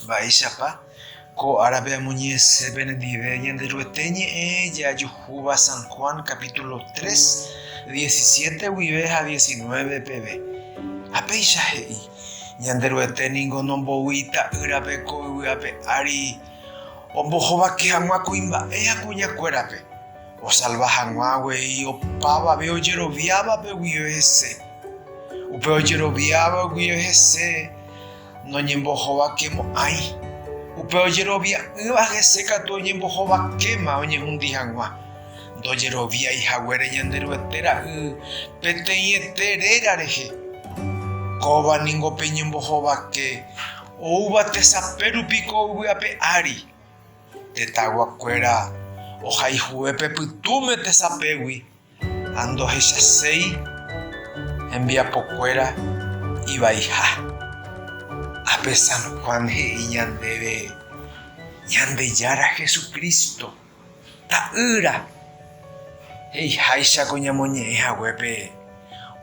Mba'éichapa ko árape amoñe'ẽse penendive Ñanderuete ñe'ẽ jajuhúva San Juan capítulo 3, 17 guive ha 19 peve? Ha péicha he'i, Ñanderuete ningo nomboy Ita'ýrape ko yvy ape ári ombohovake hag̃ua kuimba'e ha kuñakuérape, osalva hag̃ua avei opavave ojeroviávape guive hese. Upe ojeroviáva guive hese, Noñembohovakemo'ãi. Upe ojerovia'ỹva hese katu oñembohovakéma oñehundi hag̃ua. Ndojeroviái haguére Ñanderuete ra'y peteĩete réra rehe. Kóva ningo pe ñembohovake oúva tesape rupi ko yvy ape ári. Tetãyguakuéra ohaihue pe pytũme tesapégui. Ha ndohechaséi hembiapokuéra ivaiha. Ápe San Juan he'i ñandéve Ñandejára Jesucristo, Ta'ýra, he'iháichako ñamoñe'ẽ haguépe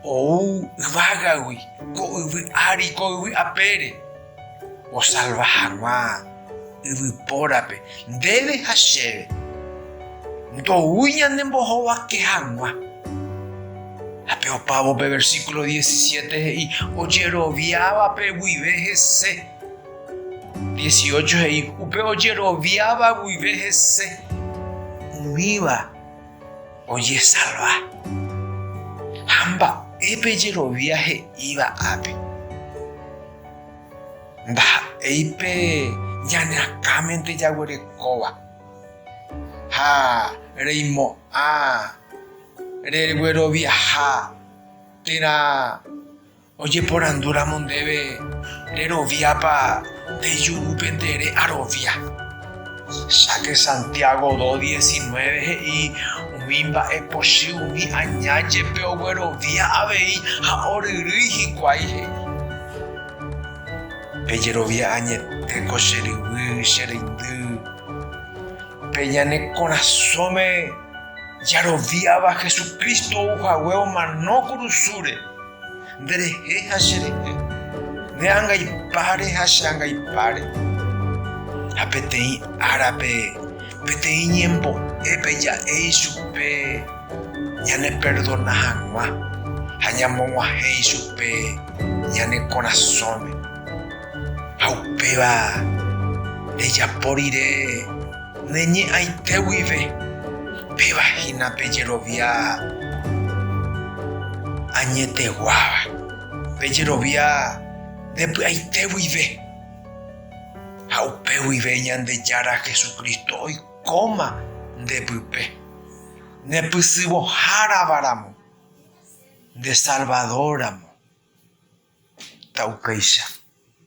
ou yvágagui ko yvy ári ko yvy apére. osalva hag̃ua yvypórape ndéve ha chéve, ndoúi ñanembohovake hag̃ua. Ha pe opávo pe versíkulo 17 he'i ojeroviávape guive hese. 18 he'i upe ojeroviáva guive hese, umíva ojesalva. Ha mba'épe jerovia he'íva ápe? Ndaha'éi pe ñaneakãmente jaguerekóva, ha reimo'ã regueroviaha térã ojeporandúramo ndéve reroviápa nde jurúpe nde re'arovia. Cháke Santiago 2, 19 he'i, Umi mba'e pochy umi aña jepe oguerovia avei ha oryrýi hikuái he'i, Pejerovia añetéko che ryvy, che reindy. Pe ñane korasõme jaroviáva Jesucristo ou hague omano kurusúre. Nde rehe ha che rehe, ne angaipáre ha che angaipáre. Ha peteĩ árape, peteĩ ñembo'épe ja'e ichupe ñane perdona hag̃ua ha ñamog̃uahẽ ichupe ñane korasõme. Ha upéva rejapo rire. Ne ñe'ãite guive, péva hína pe jerovia añeteguáva, pe jerovia nde py'aite guive. Ha upe guive Ñandejára Jesucristo oikóma nde pype, ne pysyvõhárava ramo, nde Salvador ramo. Ta'ukéicha.